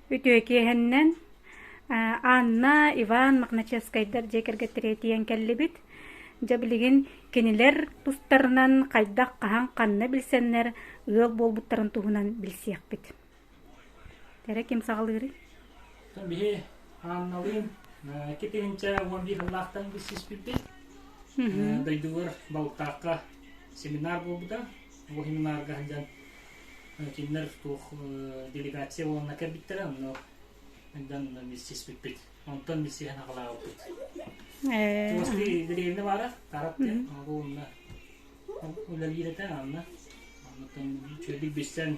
Үтүө киэһэннэн Анна, Иван Магначевскайдар дьиэ кэргэттэрэ тиийэн кэллибит. Дьэ билигин кинилэр тустарынан хайдах, хаһан, ханна билсэннэр ыал буолбуттарын туһунан билсиэхпит Тэрэ ким саҕалыырый? Биһи Анналыын икки тыһыынча уон биир сыллаахтан билсиспиппит. Дойдубар Балтаахха семинар буолбута. Бу семинарга сылдьан кинилэр туох делегация буоланна кэлбиттэрэ, ону сылдьан билсиспиппит. Онтон билсиһэн аҕалаабыппыт. Туостыы деревня баара, Таратты, ол уонна үлэлиир этэ, онно оннуттан үчүгэйдик билсэн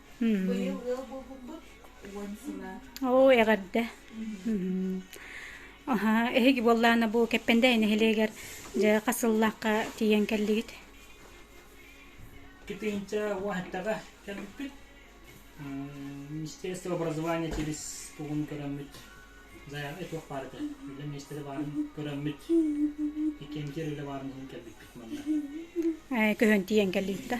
Быйыл ыал буолбуппут уон сыла. Оо, эҕэрдэ. Аһаа, эһиги буоллаана бу Кэппэндээй нэһилиэгэр дьэ хас сыллаахха тиийэн кэллигит? Кытынча уахаттаҕа кэлбиппит. Министерство образования через тугун көрөммүт заяҕа туох баарыта. Үлэ миэстэрэ баарын көрөммүт. Иккиэн киэр үлэ баарын иһин кэлбиппит манна. Көһөн тиийэн кэллигит да?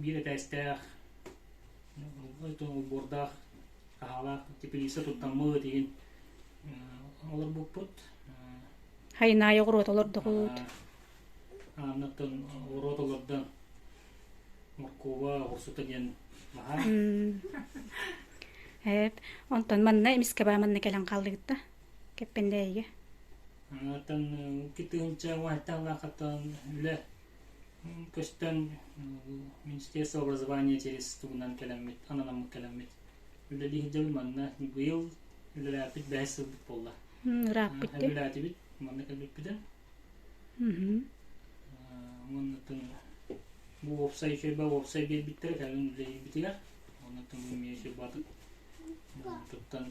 биир этээстээх убордаах хаһаалаах тепелиса туттаммыт иһин олорбуппут хайынаайы оҕуруот олордоҕут анныттан оҕуруот олордон моркуба оҕурсута диэн баһаар эп онтон манна эмискэ баа манна кэлэн хааллыгытта кэппэндээйигэ Оттон икки тыһыынча уһайтан лаахатан үлэ көстөн Министерство образования через тугунан кэлэммит, ананаммыт кэлэммит. Үлэлии сылдьабыт манна быйыл үлэлээппит бэһис сылбыт буолла. Ырааппыттын. Үлэлээтибит, манна кэлбиппитин. Оннуттан бу уопсай херба уопсай биэрбиттэр кэлин үлэлиирбитигэр. Оннуттан бу эмиэ хербатык туттан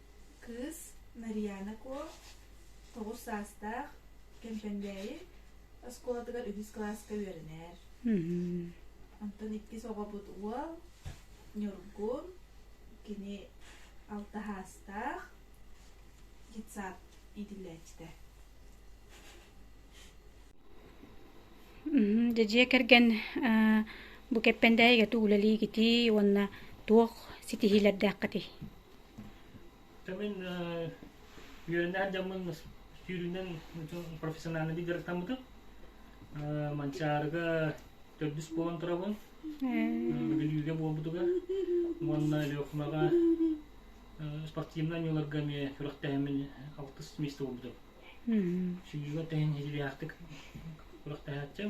кыыс Марьяна Куо тоҕус саастаах Кэмпэндээйи оскуолатыгар үһүс кылааска үөрэнэр. Онтон иккис оҕобут уол Ньургун, кини алтаһаастаах детсад иитиллээччитэ. Дьэдьиэ кэргэн бу Кэппэндээйигэ тугу үлэлиигитий уонна туох ситиһиилэрдээххитий? Мин үөрэнэр дьоммун сүүрүүнэн профессиональнай дьарыктаммытым. Манчаарыга төрдүс буолан турабын. Бүлүүгэ буолбутугар уонна Өлүөхүмэҕэ спортивнай оонньууларга эмиэ күрэхтэһэммин алтыс место буолбутум. Сүүрүүгэ тэҥ идэлээхтик күрэхтэһээччим.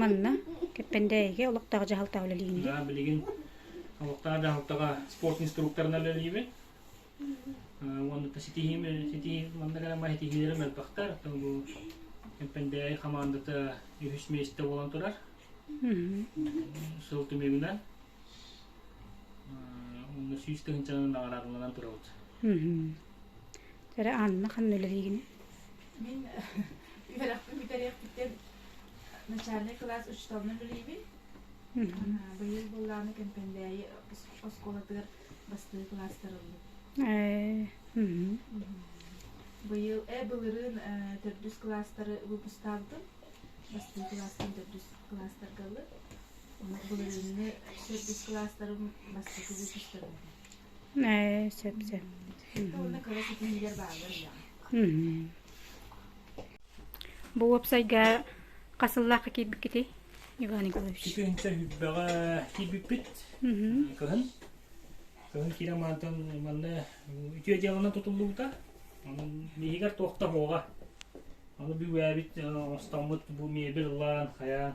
Манна Кэппэндээйигэ олохтоох дьаһалтаҕа үлэлиибин. Да, билигин олохтоох дьаһалтаҕа спорт инструкторынан үлэлиибин. Уонна ситиһиим ситиһии манна грамма ситиһиилэрим элбэхтэр. Оттон бу Кэппэндээй хамаандата үһүс миэстэ буолан турар. Сыл түмүгүнэн уонна сүүс тыһыынчанан наҕараадаланан турабыт. Эрэ Анна ханна үлэлиигин? Мин үөрэхпин бүтэриэхпиттэн начальнай кылаас учууталынан үлэлиибин. Быйыл быллааны Кэмпэндээйи оскуолатыгар бастыы кылаастарыллыбыт. Быйыл э былырыын төрдүс кылаастары выпустаабытым. Бастыы кылаастан төрдүс кылаастарга ыллыт. Былырыыҥҥы төрдүс кылаастарым бастакы выпустарым. ээ сөп сөп бу уопсайга хас сыллаахха киирбиккитий иван николаевич четырнадцатое сентябрьга киирбиппит кыһын кыһын киирэн маантан манна үтүө дьыаланан тутуллубута биһигэр туохтабоҕа аны бу ээбит остоммут бу мебель ылаан хайаан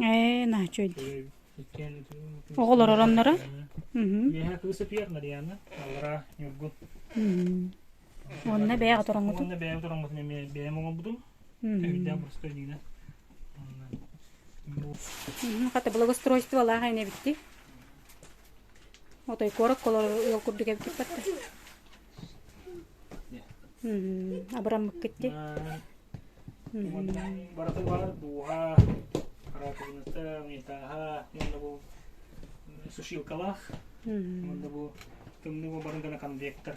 Э, Оҕолор оронноро? Үөһэ кыыс өтүйэр Мариана, аллара Ньургу. Онна бэйэҕэ тороҥҥутун? Онна бэйэҕэ тороҥҥутун эмиэ бэйэм оҥорбутум. Өйдөөх боростой диинэ. Хата благоустройстволаах эне битти. Отой куорат колор ыал курдук эбиккиппатта. Абыраммыккыт ди? Баратыгар дууһа, раковината, митаха, манна бу сушилкалаах, манна бу тымныы барын гана конвектор.